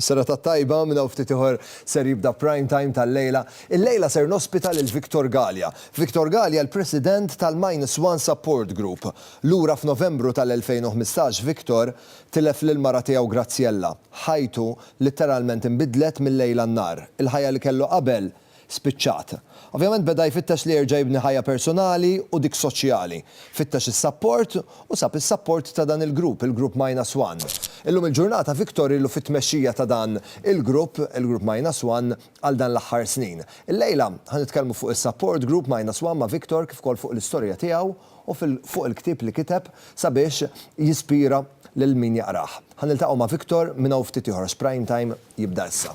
Is-serata t-tajba minn hawn ftit ieħor ser jibda Prime Time tal-lejla. Illejla ser nospita lil Victor Galea. Victor Galea l-President tal-Minus One Support Group. Lura f'Novembru tal-2015 Victor tilef lil mara tiegħu Graziella. Ħajtu litteralment inbidlet mil-lejl għan-nhar. Il-ħajja li kellu qabel spiċċat. Ovvjament beda jfittex li jerġa' jibni ħajja personali u dik soċjali. Fittex is-sapport u sab is-sapport ta' dan il-grupp, il-grupp Minus One. Illum il-ġurnata Victor ilu fit-tmexxija ta' dan il-grupp, il-grupp Minus One, għal dan l-aħħar snin. Illejla ħa nitkellmu fuq is-support group Minus One ma' Victor kif ukoll fuq l-istorja tiegħu u fuq il-ktieb li kiteb sabiex jispira lil min jaqrah. Ħa niltaqgħu ma' Victor minn hawn ftit ieħor għax Prime Time jibda issa.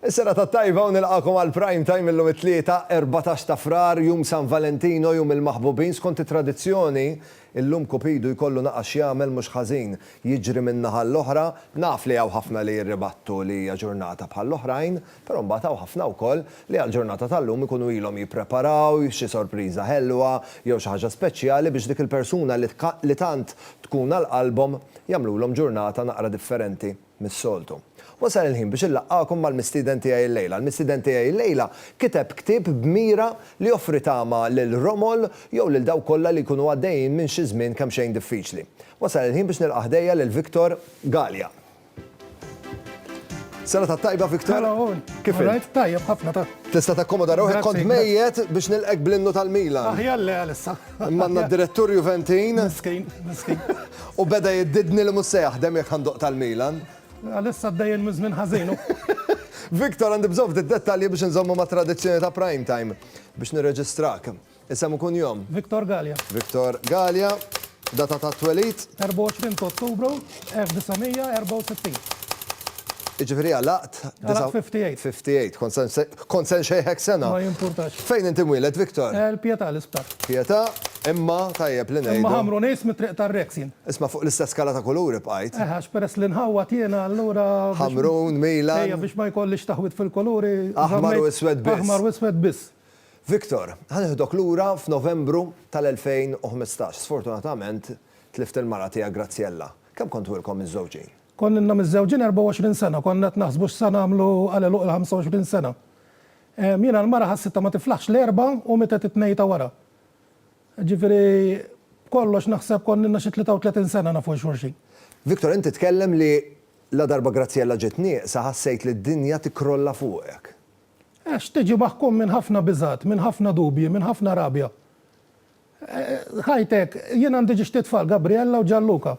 Is-serata t-tajba u nilqagħkom għal Prime Time illum it-Tlieta, erbatax ta' Frar, jum San Valentino, jum il-maħbubin. Skont it-tradizzjoni, illum Kupidu jkollu naqas x'jagħmel mhux ħażin, jiġri min-naħa l-oħra. Naf li hawn ħafna li jirribattu li hija ġurnata bħall-oħrajn, però mbagħad hawn ħafna wkoll li għall-ġurnata tal-lum ikunu ilhom jippreparaw xi sorpriża ħelwa jew xi ħaġa speċjali biex dik il-persuna li tant tkun għal qalbhom jagħmlulhom ġurnata naqra differenti. mis-soltu. Wasal il-ħin biex inlaqqagħkom mal-mistieden tiegħi llejla. Il-mistieden tiegħi llejla kiteb ktieb b'mira li joffri tama lil romol jew lil dawk kollha li jkunu għaddejjin minn xi żmien kemxejn diffiċli. Wasal il-ħin biex nilqa' ħdejja lil Victor Galea. Serata tajba Victor. Hello all. Kif int? Alright, tajjeb ħafna ta. Tista' takkomoda ruħek kont mejjet biex nilqek bl-innu tal-Milan. Aħjar le għalissa. Imma għandna d-direttur Juventin. Miskin, miskin. U beda jiddidni li mhux se jaħdem jekk għanduq tal-Milan. Għalissa d-dajjen mizmin ħażinu. Victor għandi bżonn ftit dettalji biex nżommu ma' tradizzjoni ta' prime time biex nirreġistrak. Isem ikun jom. Victor Gallia. Victor Gallia. Data ta' twelid. 24 ta' Ottubru. 1964. Jiġifieri għalaqt. Għalaqt 58. 58. Kont se nse- kont se nxejħek sena. Ma jimpurtax. Fejn inti mwieled, Victor? Eh, l-Pietà, l-isptar. Pietà, imma tajjeb li ngħidu. Imma ħamru nies mit-Triq tar-Rex jien. Isma' fuq l-istess skala ta' kuluri bqajt. Eh, għax peress li nħawwad jiena allura biex. Ħamrun, Milan. Ejja, biex ma jkollix taħwid fil-kuluri. Aħmar u żammejt iswed biss. Aħmar u iswed biss. Victor, ħa nieħdok lura f'Novembru tal-2015. Sfortunatament, tlift il-mara tiegħek Graziella. Kemm kontu ilkom miżżewġin? Konna ilna miżżewġin 24 sena, konna qed naħsbu x'sa nagħmlu għal għeluq il-25 sena. Jiena l-mara ħassitha ma tiflaħx l-erbgħa u mietet it-tnejn ta' wara. Ġifieri, b'kollox naħseb konna ilna xi 33 sena nafu 'l xulxin. Victor, inti tkellem li ladarba Graziella ġiet nieqsa ħassejt li d-dinja tikkrolla fuqek. Għax tiġi maħkum minn ħafna biżgħat, minn ħafna dubji, minn ħafna rabja. Ħajtek, jien għandi ġiex tliet tfal, Gabriella u Gianluca.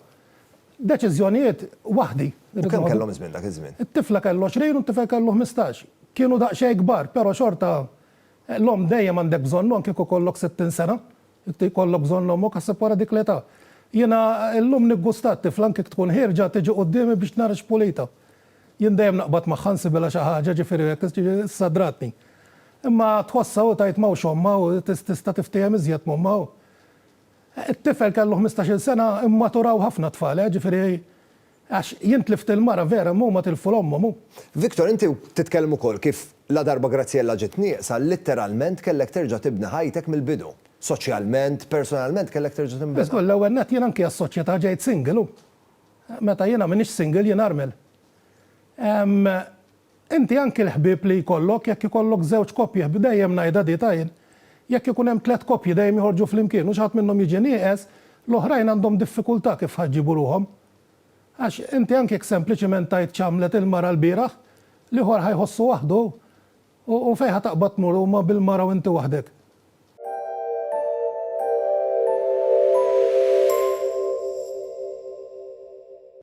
Deċiżjonijiet waħdi. U kemm kellhom żmien dak iż-żmien? It-tifla kellha għoxrin u t-tifel kellu ħmistax. Kienu daqsxejn kbar, però xorta l-omm dejjem għandek bżonnu anke kieku jkollok sittin sena. Jkollok bżonn ommok, aħseb wara dik l-età. Jiena llum niggustat tifla anke jekk tkun ħierġa tiġi quddiemi biex nara x'pulita. Jien dejjem naqbad magħha nsibhilha xi ħaġa, ġifieri hekk ssadratni. Imma tħossha u tgħid m'hawnx ommha u tista' tiftiehem iżjed m'ommha u It-tifel kellu ħmistax-il sena immaturaw ħafna t-tfal, eh, ġifieri għax jien tlift il-mara vera imma huma tilfu 'l ommhom u. Victor, inti titkellem ukoll kif ladarba Graziella ġiet nieqsa, litteralment kellek terġa' tibni ħajtek mill-bidu. Soċjalment, personalment kellek terġa' tinbena. Żgur, l-ewwel nett jien anki għas-soċjetà ġejt single u Meta jiena m'iniex single jien armel. Ehm inti anki l-ħbieb li jkollok jekk ikollok żewġ koppji dejjem ngħidha di ta' jien jekk ikun hemm tliet koppji dejjem joħorġu flimkien u xi ħadd minnhom jiġi nieqes l-oħrajn għandhom diffikultà kif ħa jġibu ruħhom. Għax inti anki jekk sempliċiment tgħid x'għamlet il-mara l-bieraħ l-ieħor ħa jħossu waħdu U fejn ħa taqbad tmur huma bil-mara u inti waħdek?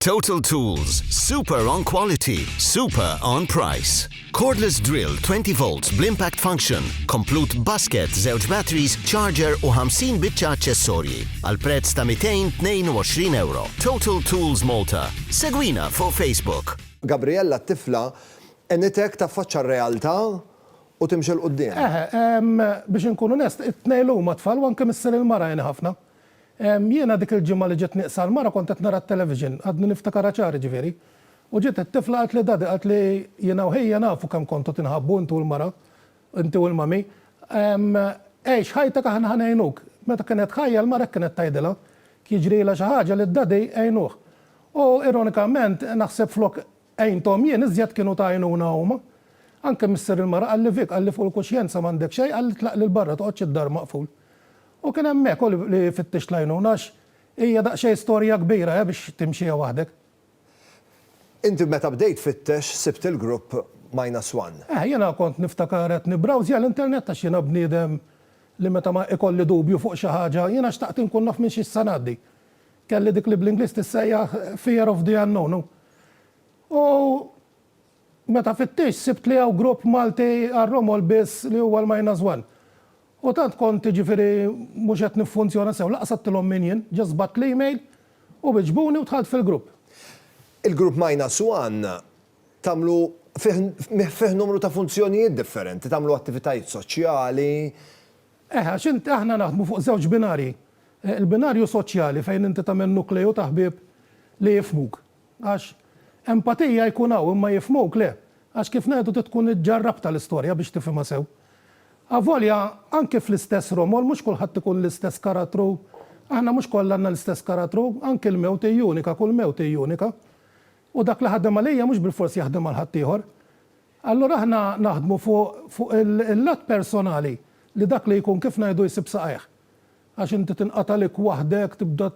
Total Tools, super on quality, super on price. Cordless drill 20 volts bl-impact function, komplut basket, zewġ batteries, charger u 50 bitċa accessorji. Għal prezz ta' 222 euro. Total Tools Malta. Segwina fuq Facebook. Gabriella t-tifla Għenitek taffaċċa r-realtà u timxi 'l quddiem. Eħe, biex inkun onest, it-tnejn huma tfal u anke missier il-mara għeni ħafna. Jiena dik il-ġimgħa li ġiet nieqsa l-mara kont qed nara t-television, għadni niftikarha ċar jiġifieri, u ġiet it-tifla qaltli Daddy, qaltli, jiena u ħija nafu kemm kontu tinħabbu inti u l-mara, inti u l-mummy, għix ħajtek aħna ħa ngħinuk. Meta kienet ħajja l-mara hekk kienet tgħidilha, jekk jiġrilha xi ħaġa lid-Daddy għinuh. U ironikament naħseb flok Għinthom jien iżjed kienu ta' għajnuna huma. Anke missier il-mara qalli Vic, qalli fuq il-kuxjenza m'għandek xejn, qalli tlaq lil barra toqgħodx id-dar maqful. U kien hemmhekk hu li fittixt l-għajnuna għax hija daqsxejn storja kbira he biex timxiha waħdek. Inti meta bdejt tfittex sibt il-grupp Minus One? Eh, jiena kont niftakar qed nibrawżja l-internet għax jiena bniedem li meta ma ikolli dubju fuq xi ħaġa jiena xtaqt inkun naf minn xi se ngħaddi. Kelli dik li bl-Ingliż tissejjaħ fear of the unknown u U meta fittixt sibt li hawn grupp Malti għar-romol biss li huwa l-minus one. U tant kont jiġifieri mhux qed niffunzjona sew, lanqas għedtilhom min jien, just bgħatt l-email u wiġbuni u dħalt fil-grupp. Il-grupp minus one tagħmlu fih numru ta' funzjonijiet differenti, tagħmlu attivitajiet soċjali, Eh, għax int, aħna naħdmu fuq żewġ binarji. Il-binarju soċjali fejn inti tagħmel nukleju ta' ħbieb li jifhmuk. Għax empatija jkun hawn imma jifhmuk le. Għax kif ngħidu trid tkun iġġarrabtha l-istorja biex tifhimha sew. Avolja anki fl-istess romol mhux kulħadd ikun l-istess karattru, aħna mhux kollha għandna l-istess karattru, anki l-mewt hi unika, kull mewt hi unika. U dak li ħadem għalija mhux bilfors jaħdem għal ħaddieħor. Allura aħna naħdmu fuq fuq il-lat personali li dak li jkun kif ngħidu jsib saqajh. Għax inti tinqatalik waħdek tibda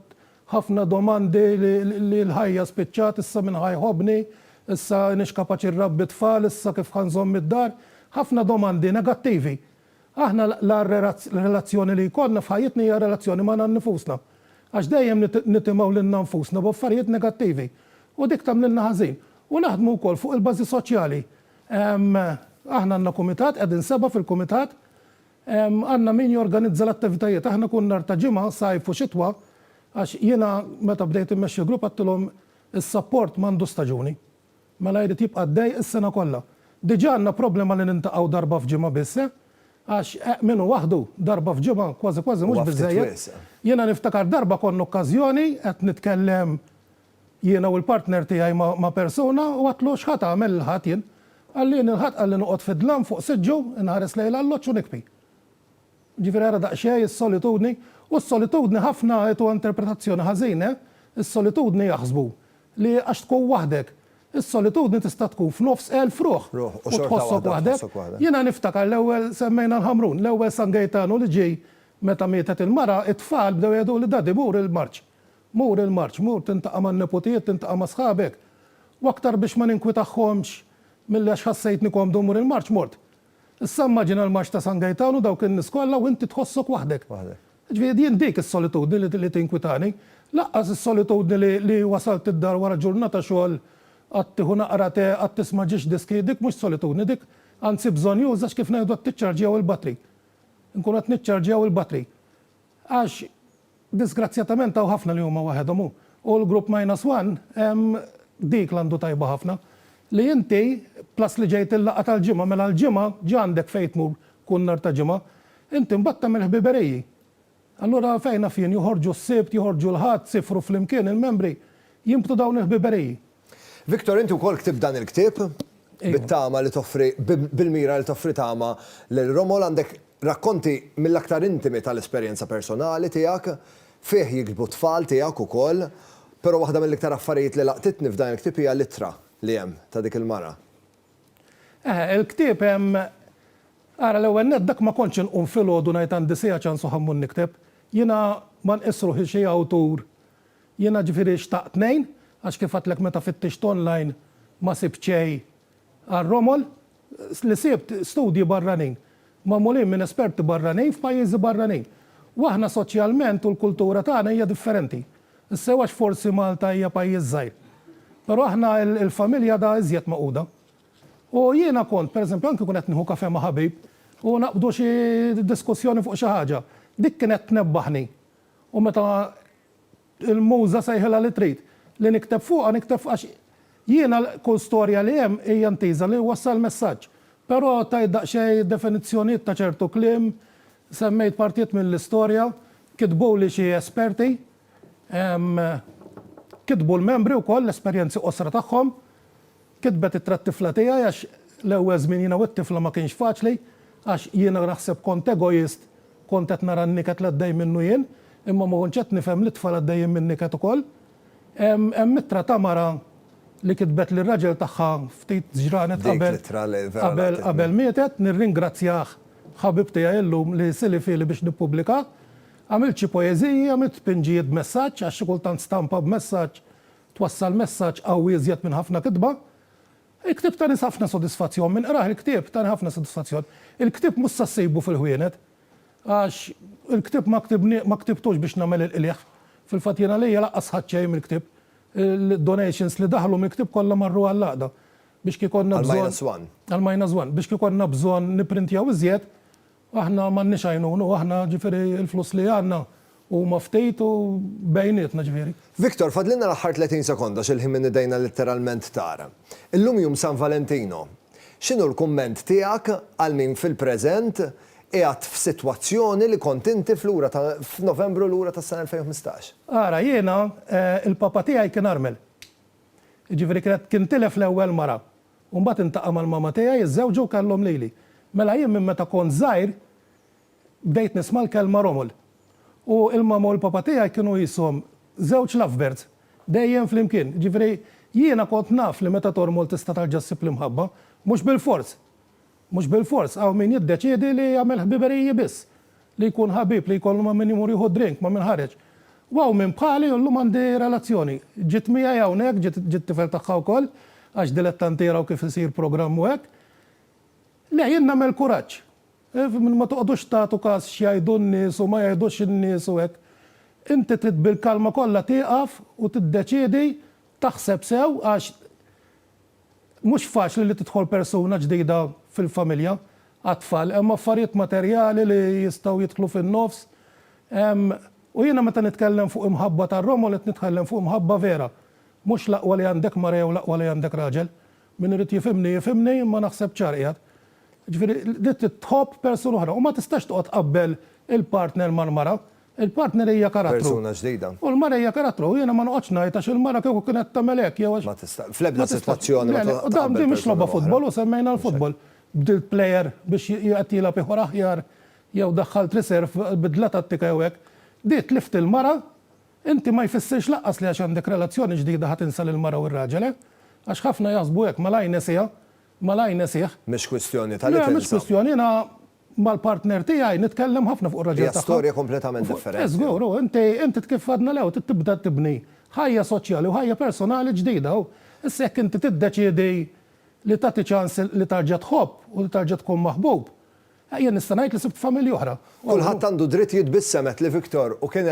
ħafna domandi li l-ħajja spiċċat issa min ħa jħobbni, issa iniex kapaċi nrabbi t-tfal, issa kif ħa nżomm id-dar, ħafna domandi negattivi. Aħna l-agħar relazzjoni li jkollna f'ħajjitna hija relazzjoni magħna nnifusna. Għax dejjem nitimgħu lilna nfusna b'affarijiet negattivi. U dik tagħmlilna ħażin. U naħdmu wkoll fuq il-bażi soċjali. Aħna għandna kumitat, qegħdin sebgħa fil-kumitat. Għandna min jorganizza l-attivitajiet. Aħna kull nhar ta' Ġimgħa, sajf u xitwa, għax jiena meta bdejt immexxi l-grupp għedtilhom is-sapport m'għandux staġuni. Mela jrid jibqa' għaddej is-sena kollha. Diġà għandna problema li nintaqgħu darba f'ġimgħa biss, eh! Għax, eh, min hu waħdu, darba f'ġimgħa kważi kważi mhux biżżejjed. Jiena niftakar darba konna okkażjoni qed nitkellem jiena u l-partner tiegħi ma' persuna u għedtlu x'ħa tagħmel il-Ħadd jien? Qalli jien il-Ħadd qalli noqgħod fid-dlam fuq siġġu, inħares lejn l-alloġġ u nikpi. Ġifieri ara daqsxejn is-solitudni, u s-solitudni ħafna qed huwa interpretazzjoni ħażin, eh? Is-solitudni jaħsbu li għax tkun waħdek. Is-solitudni tista' tkun f'nofs elf ruħ u tħossok waħdek. Jiena niftakar l-ewwel, semmejna l-Ħamrun, l-ewwel San Gejtanu li ġie meta mietet il-mara, it-tfal bdew jgħiduli Daddy mur il-marċ, mur il-marċ, mur tintaqa' man-neputijiet, tintaqa' ma' sħabek. U aktar biex ma ninkwitahomx milli għax ħassejtni komdu mmur il-marċ, mort. Issa immaġina l-Marċ ta' San Gejtan u dawk in-nies kollha u inti tħossok waħdek. Waħdek. Jiġifieri jien dik is-solitudni li li tinkwitani. Lanqas is-solitudni li li wasalt id-dar wara ġurnata xogħol, qatt tieħu naqra tè, qatt tisma' ġiex diski, dik mhux solitudni dik, anzi bżonnjuża għax kif ngħidu qed tiċċarġjaw il-batri. Inkunu qed niċċarġjaw il-batri. Għax disgrazzjatament hawn ħafna li huma waħedhom u u l-grupp minus one hemm dik l-għandu tajba ħafna li inti plus li ġejt il-laqgħa tal-Ġimgħa mela l-Ġimgħa ġa għandek fejn tmur kull nhar ta' Ġimgħa inti mbagħad tagħmel ħbiberiji. Allura fejn naf jien joħorġu s-Sibt, joħorġu l-Ħadd, sifru flimkien il-membri, jinbtu dawn il-ħbiberiji. Victor, inti wkoll ktibt dan il-ktieb, bit-tama li toffri, bil-mira li toffri tama lil Romol. Għandek rakkonti mill-aktar intimi tal-esperjenza personali tiegħek. Fih jiktbu t-tfal tiegħek ukoll. Però waħda mill-iktar affarijiet li laqtitni f'dan il-ktieb hija l-ittra li hemm ta' dik il-mara. Eħe, il-ktieb hemm, ara l-ewwel nett dak ma kontx inqum filgħodu ngħid għandi siegħa ċans u ħammur nikteb. Jiena ma nqiss ruħi xi awtur Jiena ġifieri xtaqt ngħin għax kif għedtlek meta fittixt online ma sibt xejn għal Romol. Li sibt, studji barranin. Magħmulin minn esperti barranin f'pajjiżi barranin. U aħna soċjalment u l-kultura tagħna hija differenti. Is-sew għax forsi Malta hija pajjiż żgħir. Però aħna l-familja għadha iżjed magħquda. U jiena kont, per eżempju, anki nkun qed nieħu kafè ma' ħabib u naqbdu xi diskussjoni fuq xi ħaġa, dik kienet tnebbaħni U meta l-Muża sejħilha li trid li nikteb fuqha, nikteb fuqha għax jiena kull storja li hemm hija intiża li wassal messaġġ. Però tajt daqsxejn definizzjonijiet ta' ċertu kliem, semmejt partijiet mill-istorja, kitbuli xi esperti, kitbu l-membri wkoll l-esperjenzi qosra tagħhom. Kitbet ittra t-tifla tiegħi għax l-ewwel żmien jiena u t-tifla ma kienx faċli għax jiena naħseb kont egoist, kont qed nara n-niket li għaddej minnu jien, imma ma kontx qed nifhem li t-tfal għaddejjin minn niket ukoll. Hemm ittra ta' mara li kitbet lir-raġel tagħha ftit ġranet qabel qabel qabel mietet, nirringrazzjah ħabib tiegħi illum li silifieli biex nippublika. Għamilt xi poeżiji, għamilt pinġijiet b'messaġġ għax xi kultant stampa b'messaġġ Twassal messaġġ qawwi iżjed minn ħafna kitba. Il-ktieb tani ħafna sodisfazzjon. Min qrah il-ktieb tani ħafna sodisfazzjon. Il-ktieb mhux se ssejbu fil-ħwienet. Għax il-ktieb ma ktibni, ma ktibtux biex nagħmel il-qligħ. Fil-fatt jien għalija laqqas ħadt xejn mill-ktieb. Il-donations li daħlu mill-ktieb kollha marru għall-Għaqda. Biex kieku konna bżonn. Għall-Minus One. Għall-Minus One. Biex kieku konna bżonn nipprintjaw iżjed, Aħna m'għandniex għajnuna u aħna ġifieri l-flus li għandna huma ftit u bejnietna ġifieri. Victor, fadlilna l-aħħar 30 sekonda x'il-ħin minn idejna litteralment tar. Illum jum San Valentino. X'inhu l-kumment tiegħek għal min fil-preżent qiegħed f'sitwazzjoni li kont inti f'lura ta' f'Novembru lura tas-sena 2015? Ara, jiena, il-papa tiegħi kien armel. Jiġifieri kienet kien tilef l-ewwel mara. U mbagħad intaqa' mal-mama tiegħi, iżżewġu u kellhom lili. Mela jien minn meta kont żgħir bdejt nisma' l-kelma romol. U l-mama u l-papa tiegħi kienu qishom żewġ lovebirds, dejjem flimkien. Jiġifieri jiena kont naf li meta tormol tista' terġa' ssib l-imħabba, mhux bilfors. Mhux bilfors, hawn min jiddeċiedi li jagħmel ħbiberiji biss, li jkun ħabib, li jkollu ma' min imur jieħu drink, ma' min ħareġ. U hawn min bħali u llum għandi relazzjoni. Ġiet miegħi hawnhekk, ġiet it-tifel tagħha wkoll, għax dilettanti jaraw kif isir programm u hekk. Le, jien nagħmel kuraġġ. Ma toqgħodux tagħtu każ x'jgħidu n-nies u ma jgħidux in-nies u hekk. Inti trid bil-kalma kollha tieqaf u tiddeċiedi, taħseb sew għax, Mhux faċli li tidħol persuna ġdida fil-familja għat-tfal. Hemm affarijiet materjali li jistgħu jidħlu fin-nofs. Hemm, u jiena meta nitkellem fuq imħabba ta' Romol qed nitkellem fuq imħabba vera. Mhux l-aqwa li għandek mara jew l-aqwa li għandek raġel. Min irid jifhimni jifhimni imma naħseb ċar qiegħed. Ġifieri li trid tħobb persuna oħra u ma tistax toqgħod tqabbel il-partner mal-mara Il-partner hija karattru. Persuna ġdida. U l-mara hija karattru. Jiena ma noqgħodx ngħid għax il-mara kieku kienet tagħmel hekk jew għax. Ma tista'. Fl-ebda sitwazzjoni ma tista' tqabbel persuna oħra. Din mhix logħba futbol u semmejna l-futbol. Bdilt plejer biex qed jilgħab ieħor aħjar jew daħħalt riserv bidla tattika jew hekk. Di tlift il-mara inti ma jfissirx lanqas li għax għandek relazzjoni ġdida ħa tinsa lill-mara u r-raġel le. Għax ħafna jaħsbu hekk, malajr nesiha, malajr nesih. Mhix kwistjoni ta' li tinsa. Le mhix kwistjoni, jiena Mal-partner tiegħi nitkellem ħafna fuq ir-raġel tagħha. Hija storja kompletament differenti. Eh żgur, u inti, inti kif għadna l-ewwel trid tibda tibni ħajja soċjali u ħajja personali ġdida u issa jekk inti tiddeċiedi li tagħti ċans li tarġa' tħobb u li tarġa' tkun maħbub, eh jien nista' ngħid li sibt familja oħra. Kulħadd għandu dritt jitbissem għedt li Victor u kien,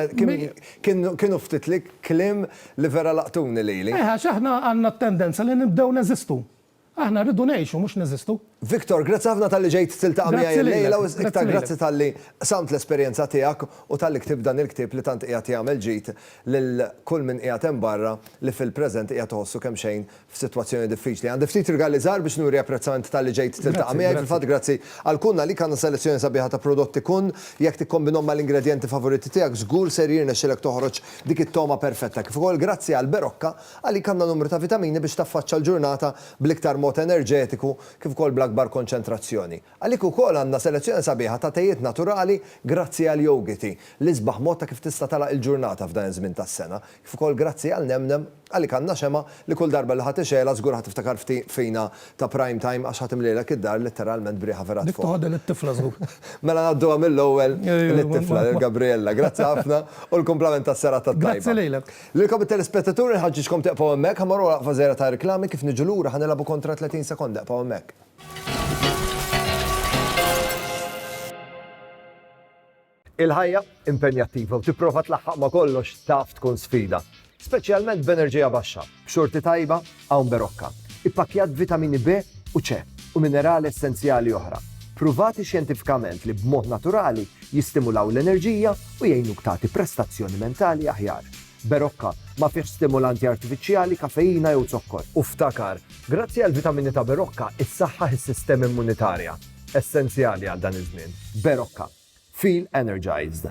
kien, kienu ftit li kliem li vera laqtuni lili. Eh għax aħna għandna t-tendenza li nibdew neżistu. Aħna rridu ngħixu mhux neżistu. Victor, grazzi ħafna talli ġejt tiltaqa' miegħi l-lejla u iktar grazzi talli qsamt l-esperjenza tiegħek u talli ktibt dan il-ktieb li tant qiegħed jagħmel ġid lil kull min qiegħed hemm barra li fil-preżent qiegħed iħossu kemmxejn f'sitwazzjoni diffiċli. Għandi ftit rigali żgħar biex nuri apprezzament talli ġejt tiltaqa' miegħi, fil-fatt grazzi għal Kun għalik għandna selezzjoni sabiħa ta' prodotti Kun, jekk tikkombinhom mal-ingredjenti favoriti tiegħek żgur ser jirnexxilek toħroġ dik it-togħma perfetta. Kif ukoll grazzi għal Berocca Għalik għandha numru ta' vitamini biex taffaċċa l-ġurnata bl-iktar mod enerġetiku kif ukoll bl-akbar konċentrazzjoni. Għalik ukoll għandna selezzjoni sabiħa ta' tejiet naturali grazzi għal jogiti, l-isbaħ mod ta' kif tista' tagħlaq il-ġurnata f'dan iż-żmien tas-sena, kif ukoll grazzi għal nemnem, għalik għandna xemgħa li kull darba li ħa tixgħelha żgur ħa tiftakar fina ta' prime time għax ħa timlilek id-dar letteralment b'riħa vera tfogħok. Dik toħodha lit-tifla żgur. Mela ngħadduha mill-ewwel lit-tifla, lil Gabriella. Grazzi ħafna u l-kumplament tas-serata t-tajba. Grazzi lilek. Lilkom it-telespettaturi nħaġġiġkom tieqfgħu hemmhekk, ħa mmorru għal waqfa żgħira ta' reklami, kif niġu lura ħa nilagħbu kontra 30 sekonda, eqfgħu hemmhekk. Il-ħajja impenjattiva u tipprova tlaħħaq ma' kollox taf tkun sfida, speċjalment b'enerġija baxxa, b'xorti tajba Hawn Berocca, ippakkjat b'vitamini B u C u minerali essenzjali oħra, pruvati xjentifikament li b'mod naturali jistimulaw l-enerġija u jgħinuk tagħti prestazzjoni mentali aħjar. Berocca ma fihx stimulanti artifiċjali, kafeina jew zokkor. U ftakar, grazzi għall-vitamini ta' Berocca issaħħaħ is-sistema immunitarja, essenzjali għal dan iż-żmien. Berocca. Feel energized.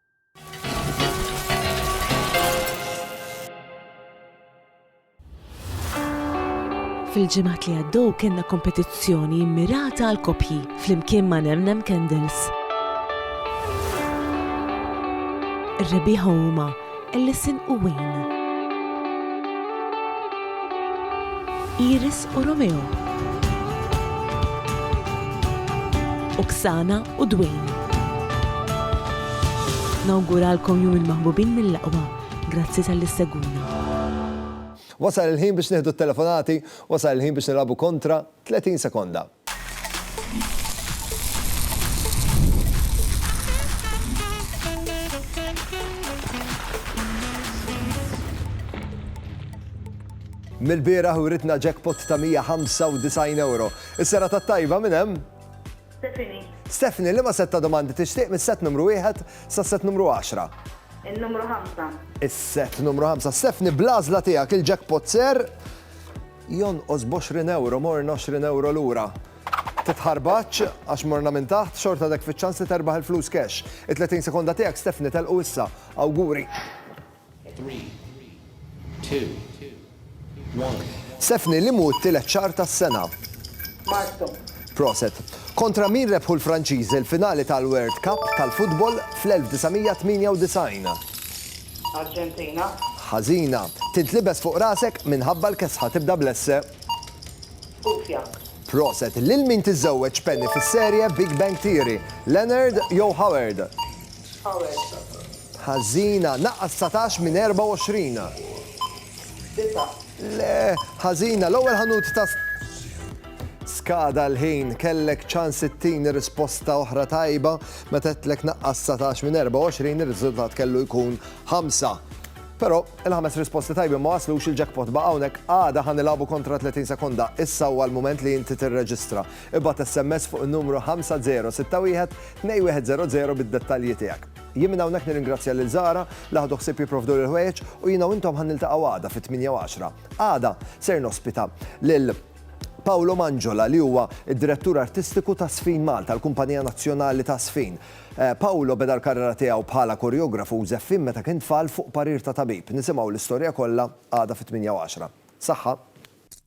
Fil-ġimgħat li għaddew kellna kompetizzjoni mmirata għal koppji flimkien ma' Nemnem Candles. Ir-rebbieħa huma Ellison u Wayne. Iris u Romeo. Oksana u Dwayne. Nawguralkom Jum il-Maħbubin mill-aqwa. Grazzi talli ssegwuna. Wasal il-ħin biex nieħdu t-telefonati, wasal il-ħin biex nilagħbu kontra 30 sekonda. Mil-bieraħ uritna jackpot ta' 195 euro. Is-sera ta' tajba minn hemm? Stephanie. Stephanie, li ma set ta' domandi tixtieq mis-set numru 1 sa' set numru 10? Il-numru 5. Is-set numru 5. Stephanie, blażla tiegħek il-jackpot ser Jonqos b'għoxrin ewro, morna għoxrin ewro lura. Titħarbaċ, għax morna minn taħt, xorta dek fiċ-ċans li terbaħ il-flus cash. It-30 sekonda tiegħek Stephanie telqu issa. Awguri. Stephanie, li mu t-tielet xahar tas-sena? Marzu. Proset. Kontra min rebħu l-Franċiżi l-finali tal-World Cup tal-futbol fl-1998? Arġentina. Ħażina. Tintlibes fuq rasek minħabba l-kesħa tibda bl-esse. Kufja. Proset. Lil min tiżżewweġ Penny fis-serje Big Bang Theory? Leonard jew Howard? Howard. Ħażina. Naqqas dsatax minn 24. Disa'. Le. Ħażina. L-ewwel ħanut ta' Skada l-ħin. Kellek ċans ittini risposta oħra tajba. Meta għedtlek naqqas 19 minn 24 ir-riżultat kellu jkun ħamsa. Però il-ħames risposti tajbin ma waslux il-jackpot baqa' hawnhekk għada ħa nilagħbu kontra 30 sekonda. Issa huwa l-mument li inti tirreġistra. Ibgħat SMS fuq in-numru 5061 2100 bid-dettalji tiegħek. Jien minn hawnhekk nirringrazzja lil Zahra li ħadu ħsieb jipprovduli l-ħwejjeġ u jiena u intom ħa niltaqgħu għada fit-tmienja u għaxra. Għada ser nospita lil. Paolo Mangiola li huwa d-Direttur Artistiku ta' Sfin Malta, l-kumpanija nazzjonali ta' Sfin. Eh, Paolo beda l-karriera tiegħu bħala koreografu u żeffin meta kien tfal fuq parir ta' tabib. Nisimgħu l-istorja kollha għada fit-8:10. Saħħa!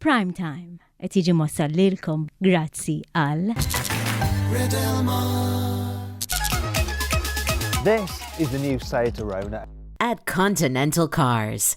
Prime Time qed jiġi mwassal lilkom grazzi għal. This is the new Seat Arona. At Continental Cars.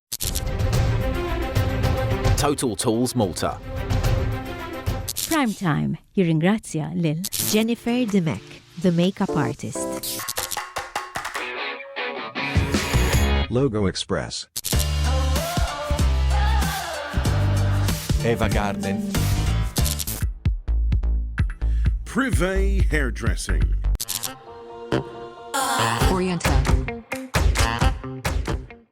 Total Tools Malta. Prime Time jirringrazzja lil Jennifer Dimek, the makeup artist. Logo Express. Eva Garden. Privé Hairdressing. Oriental.